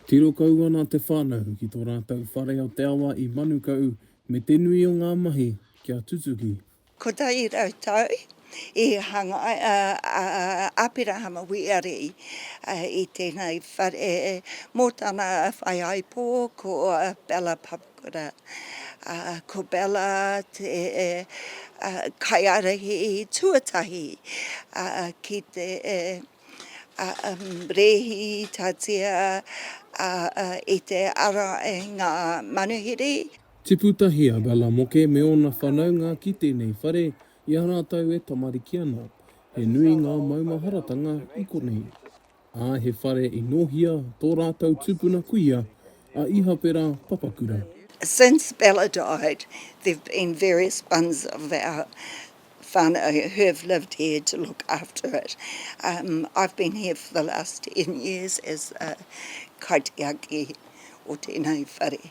Tiro kau ana te whānau ki tō rātou whare o te awa i Manukau me te nui o ngā mahi kia tutuki. Kotahi rau tau i hanga a Aperahama Wīari i tēnei whare mō tana whaiāipō ko Bella Pavone. Ko Bella te kaiārahi tuatahi ki te rēhitatia i te ara i ngā manuhiri. Tipu tahi a Bella Moke me ōna whānaunga ki tēnei whare i a rātou e tamariki ana. He nui ngā maumaharatanga i konei. ā, he whare i nōhia tō rātou tūpuna kuia a Ihapera Papakura. Since Bella died there've been various ones of our whanau who've lived here to look after it. I've been here for the last ten years as the kaitiaki o tēnei whare.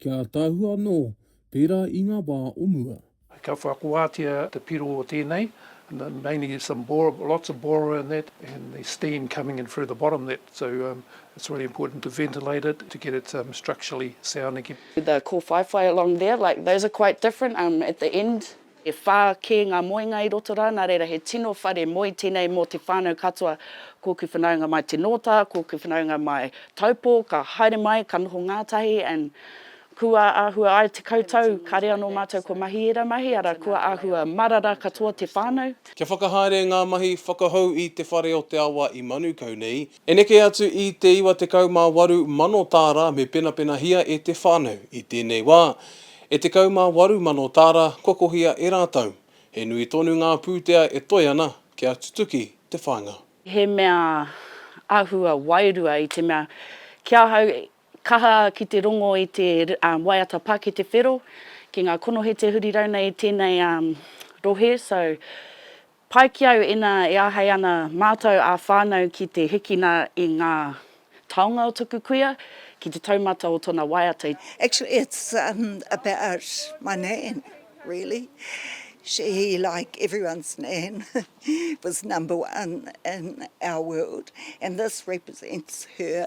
Kia ataahua anō, pērā i ngā wā o mua. Ka whakuātia te piro o tēnei, mainly some bore, lots of bore in that and the steam coming in through the bottom that so um it's really important to ventilate it to get it um structurally sound again. The kōwhaiwhai along there, like those are quite different um at the end. E whā kē ngā moenga i roto rā, nā reira he tino whare moe tēnei mō te whānau katoa. Kōku whanaunga mai Te Nōta, kōku whanaunga mai Taupō, ka haere mai, ka noho ngātahi and kua āhua ai tekau tau, kāre anō mātou kua mahi ērā mahi, arā, kua āhua marara katoa te whānau. Kia whakahaere ngā mahi whakahou i Te Whare o te Awa i Manukau nei, E neke atu i te 98 mano tāra me penapenahia e te whānau, i tēnei wā, e 18 mano tāra kua kohia e rātou. He nui tonu ngā pūtea e toe ana kia tutuki te whāinga. He mea āhua wairua i te mea, ki ahau, kaha ki te rongo i te waiata pā ki te whero, ki ngā konohete huri rau nei i tēnei rohe, so Pai ki au ina e ahei ana matou a whanau ki te hikina i nga taonga o toku kuia ki te taumata o tona waiata i. Actually it's about my nan really, she like everyone's nan was number one in our world and this represents her.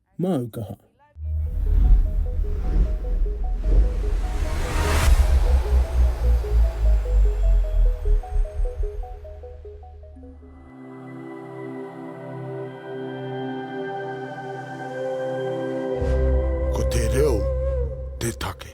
Māu kaha. Ko te reo te take.